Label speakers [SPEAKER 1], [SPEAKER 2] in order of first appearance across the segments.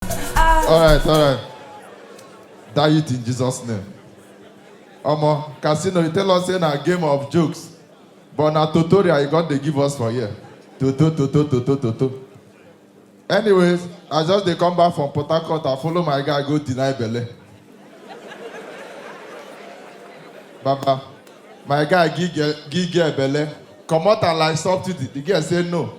[SPEAKER 1] All right, all right. Die it in Jesus' name. Omo, Casino, you tell us in a game of jokes, but na tutorial you got they give us for here. Toto, toto, toto, toto. Anyways, I just dey come back from Port Harcourt and follow my guy go deny belle. Baba, my guy give girl give girl belle, comot am like subsidy. The girl say no.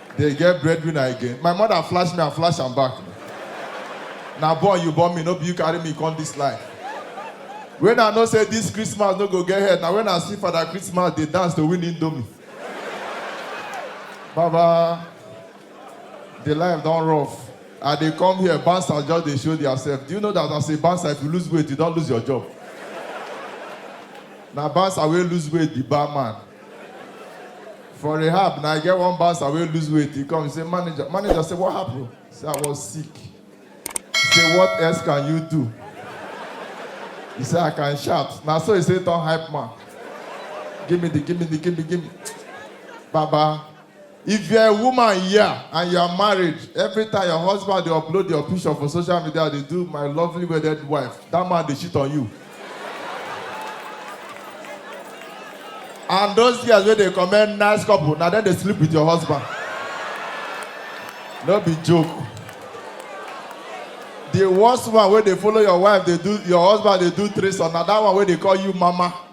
[SPEAKER 1] Dey get breadwinner again? My mother flash me and flash am back. Na born you born me, no be you carry me come this life. When I know say this Christmas no go get head, na when I see Father Christmas dey dance to win indomie. Baba, the life don rough. I dey come here, bouncers just dey show theirself. Do you know that as a bouncer, if you lose weight, you don lose your job? Na bouncer wey lose weight be barman. For rehab, now I get one bouncer wey lose weight. He come, he say, manager, manager say, what happened? He say, I was sick. He say, what else can you do? He say, I can shout. Now so he say, turn hype man. Give me the, give me the, give me, give me. Baba, If you're a woman here and you're married, every time your husband dey upload your picture for social media dey do my lovely wedded wife, that man dey cheat on you. And those girls wey dey comment nice couple, na dem dey sleep with your husband. No be joke. The worst one wey dey follow your wife dey do, your husband dey do threesome, na that one wey dey call you mama.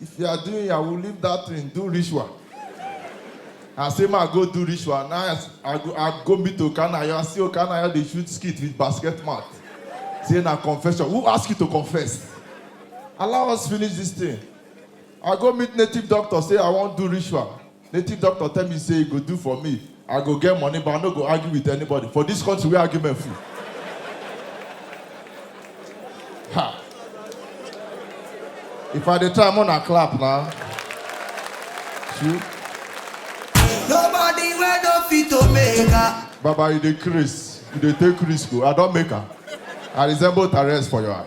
[SPEAKER 1] If you are doing yahoo, leave that thing, do ritual. I say, ma go do ritual. Now I, I go, I go meet Okanayo. I see Okanayo, they shoot skit with basket mat. Say, na confession. Who ask you to confess? Allow us finish this thing. I go meet native doctor, say, I won't do ritual. Native doctor tell me say e go do for me, I go get money but I no go argue with anybody for this country wey argument full. Ha! If I dey try make una clap na. True. Nobody
[SPEAKER 2] wey no fit to make her. Baba you dey
[SPEAKER 1] craze, you dey take risk o, I don make am. I resemble Tyrese for your eye.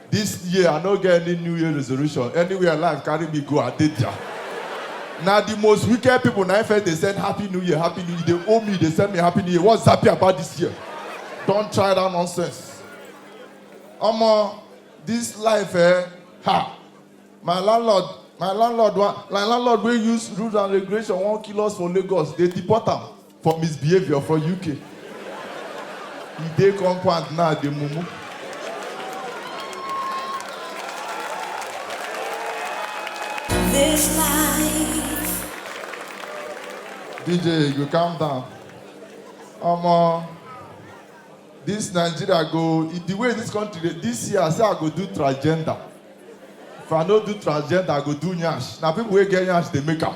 [SPEAKER 1] This year I no get any new year resolution, anywhere life carry me go I dey there. Na the most wicked people na im first dey send happy new year, happy new year, you dey owe me, you dey send me happy new year, what's happy about this year? Don try that nonsense. Omo, this life eh, ha, my landlord, my landlord wan, my landlord wey use rules and regulation wan kill us for Lagos, dey deport am. for misbehaviour for uk e dey compound now dey mumu. This life. DJ, you calm down. Omo, this Nigeria go, i- the way this country dey, this year I say I go do transgender. If I no do transgender, I go do nyash. Na people wey get nyash dey make am.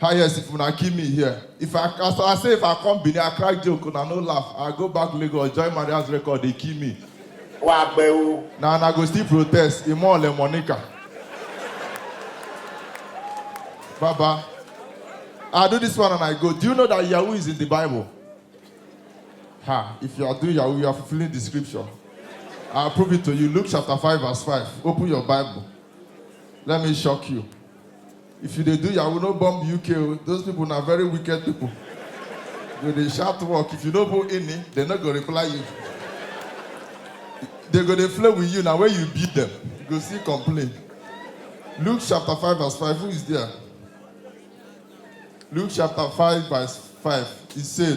[SPEAKER 1] Highest if una kill me here. If I as I say if I come Benin, I crack joke, una no laugh. I go back Lagos, join Maria's record, they kill me. Wà á gbẹ o. Na una go still protest, Imo Ole Monica. Baba, I do this one and I go. Do you know that Yahoo is in the Bible? Ha, if you are doing Yahoo, you are fulfilling the scripture. I'll prove it to you. Luke chapter 5, verse 5. Open your Bible. Let me shock you. If you dey do yahoo no bomb UK o, those people na very wicked people. You go dey shout work, if you no put ini, dem no go reply you. Dem go dey flow with you, na when you beat them, you go still complain. Luke chapter five verse five, who is there? Luke chapter five verse five, e say,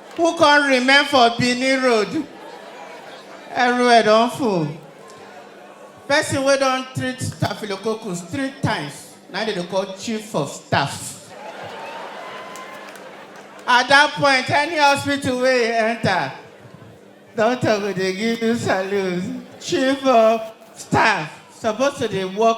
[SPEAKER 3] Who come remain for Benin road? Everywhere don full. Person wey don treat staphylococcus three times na dem dey call chief of staff. At that point, any hospital wey you enter, doctor go dey give you salute. Chief of staff suppose to dey work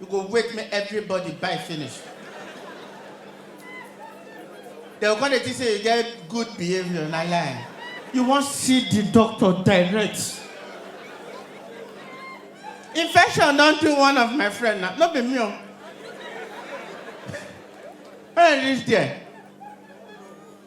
[SPEAKER 3] You go wait make everybody buy finish. They go come dey think say you get good behavior, na lie. You wan see the doctor direct. Infection don do one of my friend na, no be me o. When I reach there,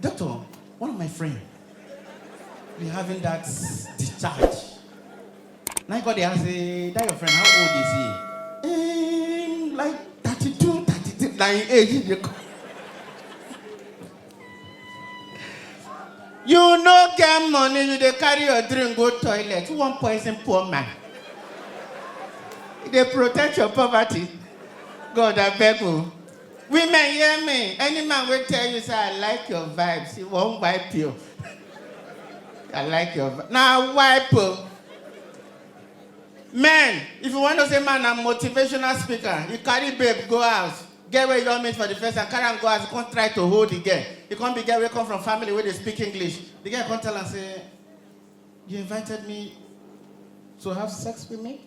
[SPEAKER 3] Doctor, one of my friend be having that discharge. Now you got the ask, eh, that your friend, how old is he? Um, like 32, 33, like age. You, you no get money, you dey carry your drink go toilet. Who wan poison poor man? You dey protect your poverty. God abeg o. Women hear me, any man wey tell you say I like your vibes, he wan wipe you. I like your vibes, na wipe o. Men, if you wan know say man na motivational speaker, he carry babe go house, girl wey he don meet for the first time, carry am go house, he come try to hold the girl, he come be girl wey come from family wey dey speak English, the girl come tell am say, you invited me to have sex with me?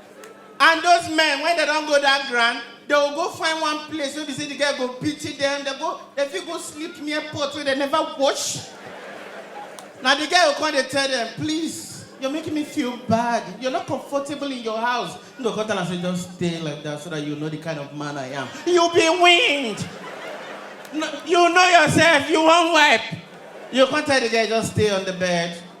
[SPEAKER 3] And those men, when they don't go that ground, they will go find one place where be say the girl go pity them. They go, they fit go sleep near pot where they never wash. Now the girl will come and tell them, please, you're making me feel bad. You're not comfortable in your house. You go come tell am say just stay like that so that you know the kind of man I am. You'll be winged. No, you know yourself. You won't wipe. You can't tell the girl just stay on the bed.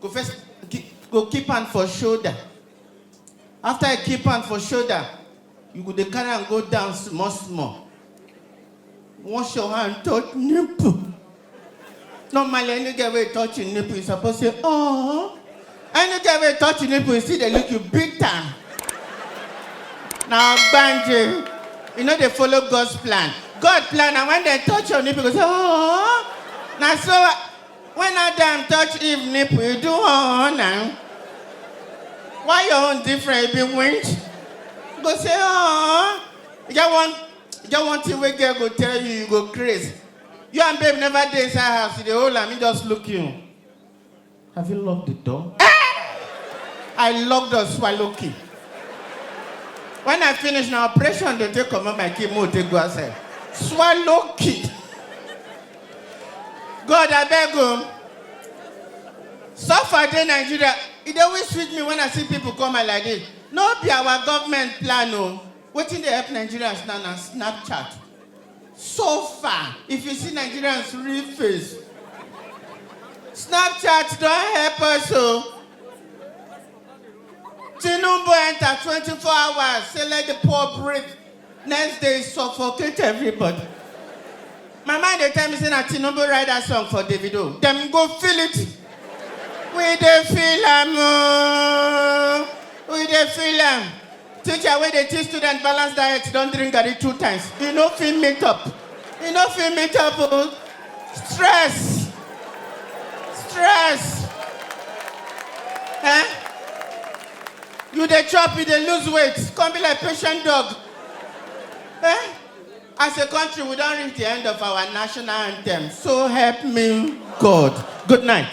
[SPEAKER 3] go first keep, go keep hand for shoulder after you keep hand for shoulder you go dey carry am go down small small wash your hand touch nipple normally any girl wey touch your nipple you suppose say oh any girl wey touch your nipple you see dey look you bitter na ogbanje you no dey follow god's plan god plan na when dem touch your nipple you go say oh na so When Adam touch Eve nipple, you do oh, oh now. Why your own different? It be wind. Go say oh. You get one, you get one thing where girl go tell you, you go crazy. You and babe never dey inside house. You dey hold am, he just look you. Have you locked the door? Eh! I locked the swallow key. When I finish na operation, dey take comot my key, mo take go outside. Swallow key. God abeg o. Suffer dey Nigeria, e dey always sweet me when I see people come my like this. No be our government plan o. Wetin dey help Nigerians now na Snapchat. So far, if you see Nigerians real face, Snapchat don help us o. Tinubu enter twenty four hours say let the poor breathe. Next day suffocate everybody. My mind dey tell me say na Tinubu write that song for Davido. Dem go feel it. We dey feel am ooo. We dey feel am. Teacher wey dey teach student balance diet don drink garri two times. E no fit meet up. E no fit meet up ooo. Stress. Stress. Eh? you dey chop you dey lose weight come be like patient dog eh as a country we don reach the end of our national anthem so help me god good night.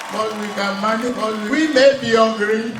[SPEAKER 4] But we can manage, we may be hungry.